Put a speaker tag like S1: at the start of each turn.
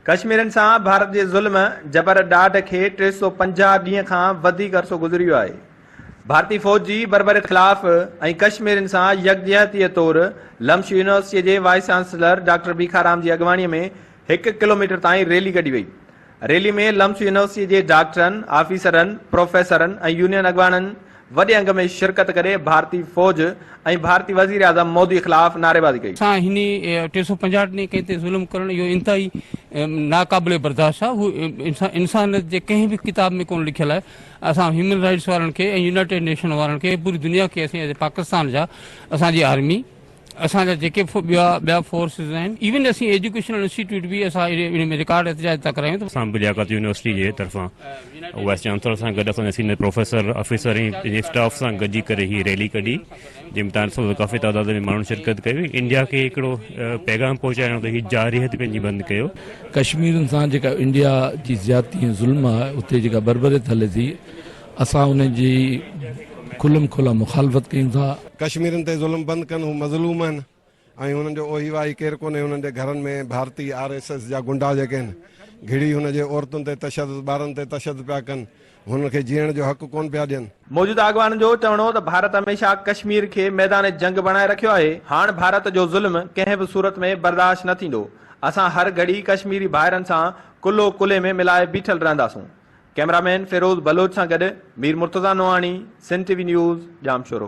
S1: ڪشميرين سان ڀارت جي ظلم، جبر، ڏاڍ کي ٽي سؤ پنجاهه ڏينهن کان وڌيڪ عرصو گذري ويو آهي. ڀارتي فوج جي بربري خلاف ۽ ڪشميرين سان يڪجهتيء طور لمش يونيورسٽيء جي وائيس چانسلر ڊاڪٽر ڀيکارام جي اڳواڻيء ۾ هڪ ڪلوميٽر تائين ريلي ڪڍي وئي. ريلي ۾ لمش يونيورسٽيء جي ڊاڪٽرن، آفيسرن، پروفيسرن ۽ يونين اڳواڻن وڏي انگ ۾ شرڪت ڪري ڀارتي فوج ۽ ڀارتي وزيراعظم مودي خلاف نعريبازي ڪئي. سان هن ٽي سؤ
S2: پنجاهه ڏني ڪنهن تي ظلم ڪرڻ اهو انتهائي ناقابل برداشت آهي اهو انسانيت جي ڪنهن به ڪتاب ۾ ڪونه لکيل آهي اسان هيومن رائيٽس وارن کي ۽ يونائيٽيڊ نيشن وارن کي پوري دنيا کي اسين ايز اي پاڪستان جا اسان جي آرمي اسان جا جيڪي ٻيا ٻيا فورسز آهن ايون اسين ايجوڪيشنل انسٽيٽيوٽ به اسان ان ۾ رڪارڊ احتجاج ٿا ڪرايون ته اسان به لياقت يونيورسٽي
S3: جي طرفان وائيس چانسلر سان گڏ اسان جا سينئر پروفيسر آفيسر ۽ پنهنجي اسٽاف سان گڏجي ڪري هي ريلي ڪڍي جنهن ۾ تان سو ڪافي تعداد ۾ ماڻهن شرڪت ڪئي هئي انڊيا کي هڪڙو پيغام پهچائڻو ته هي جارحيت پنهنجي بند ڪيو. ڪشميرين سان
S4: جيڪا انڊيا جي زيادتي ۽ ظلم آهي اتي جيڪا بربريت هلي ٿي اسان انهن جي کلم کلا مخالفت ڪيون ٿا. ڪشميرين تي ظلم
S5: بند ڪن هو مظلوم آهن ۽ هنن جو اوهي واهي ڪير ڪونهي هنن جي گهرن ۾ ڀارتي آر ايس ايس جا گنڊا جيڪي آهن گهڙي هن جي عورتن تي تشدد ٻارن تي تشدد پيا ڪن هنن کي جيئڻ جو حق ڪون پيا ڏين. موجوده اڳواڻن جو
S1: چوڻ هو ته ڀارت هميشه ڪشمير کي ميدان جنگ بڻائي رکيو آهي هاڻ ڀارت جو ظلم ڪنهن به صورت ۾ برداشت نه ٿيندو اسان هر گهڙي ڪشميري ڀائرن سان ڪلهو ڪلهي ۾ ملائي بيٺل رهنداسون ڪئميرا مين فيروز بلوچ سان گڏ Mir Murtaza Nohani, Sindh T V news, Jamshoro.